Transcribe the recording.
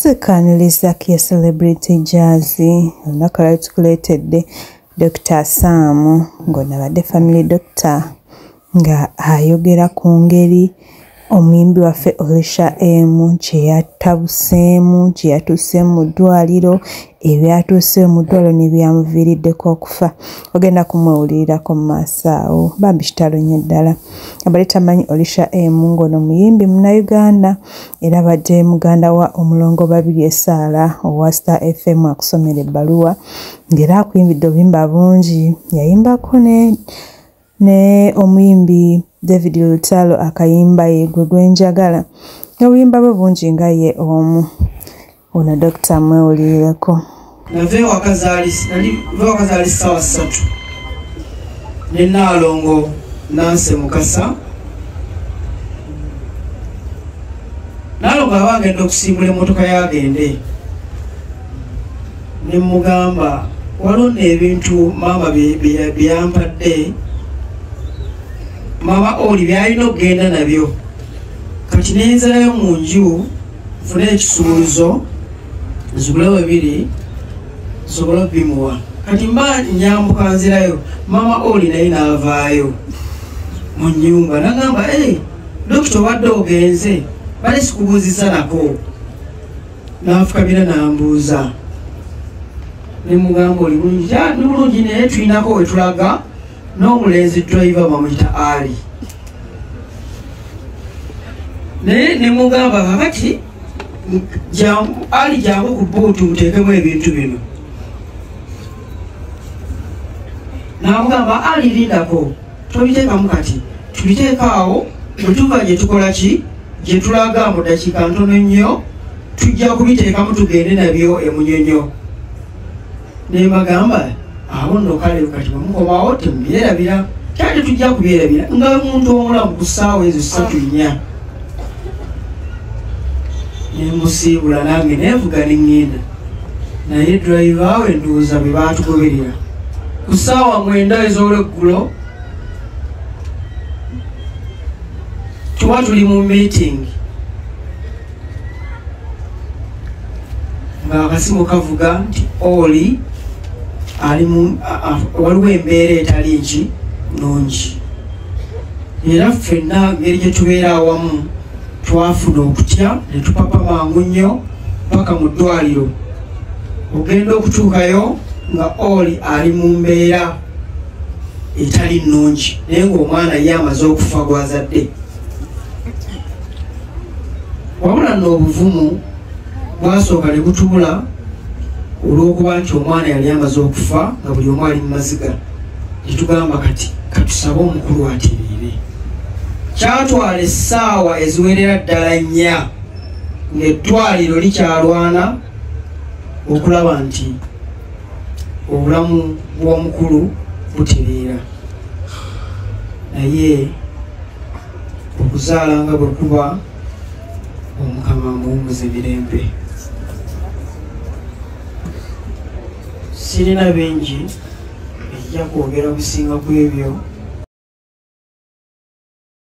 tukaniriza ke celebrity jazzy olunaku lwali tukuleetedde dokita saamu ng'ono abadde family doctor nga ayogera ku ngeri omuyimbi waffe olisha emu kye yatabuseemu kye yatuuseemu mu ddwaliro ebyatuuse omudwalo nebyamuviiriddeko okufa ogenda kumwewulirirako mu maaso awo bambi kitalo nnyo ddala abali tamanyi olisha emu ng'ono muyimbi munauganda era badde muganda wa omulongo babiri esaala owa star fm akusomera ebbaluwa ng'era akuyimbidde obuyimba bungi yayimbako ne naye omuyimbi david lutalo akayimba ye gwe gwenjagala n'obuyimba bwe bungi nga ye omu ono dokita mwewulirireko nava ewaka zaali sawa ssatu ne naalongo nanse mukasa naalongo aba agenda okusimbula emmotoka yagende ne mugamba waliwo nebintu maama byeyampadde maama oli byalina okugenda nabyo kati nenzirayo mu nju nfune ekisumuluzo nzigule webiri nsobole obimuwa kati mba nyambuka nzirayo maama oli naye navaayo mu nyumba nagamba dokita obadde ogenze bali sikubuuzisa nako n'anfukamira n'ambuuza ne mugamba oli bulungi ni bulungi naye tulinako we tulaga n'omulenzi driver bamuyita ali naye ne mugamba kakati ali jangu ku buutu muteekemu ebintu bino namugamba ali lindako tobiteekamu kati tubiteekaawo bwe tuva gye tukola ki gye tulaga mu ddakiika ntono nnyo tujja kubiteekamu tugende nabyo emunyonyo ne mbagamba awo nno kale kati bwemukomawo temubyerabira kyali tujja kubyerabira nga omuntu omulamu ku ssaawa ezo ssatu nnya nemusiibula nange nenvuga neŋŋenda naye driva we ndowooza bwe baatugoberera ku ssaawa mwenda ez'olweggulo tuba tuli mu meeting ng'akasimu kavuga nti oli ali waliwo embeera etali nki nungi era ffenna ngeri gye tubeera awamu twafuna okutya ne tupapa mangu nnyo paka mu ddwaliro ogenda okutuukayo nga oli ali mu mbeera etali nnungi naye ngaomwana ye amaze okufa gwazadde wabula noobuvumu bwasooka ne butubula olw'okuba nti omwana yali amaze okufa nga buli omu ali mu maziga netugamba kati katusabe omukulu atiriire kyatwala essaawa eziwerera ddala nnya ngaeddwaliro likyalwana okulaba nti obulamu bw'omukulu butereera naye okuzaala nga bwe kuba omukama muwumuze mirembe sirina bingi ejja kwogera businga ku ebyo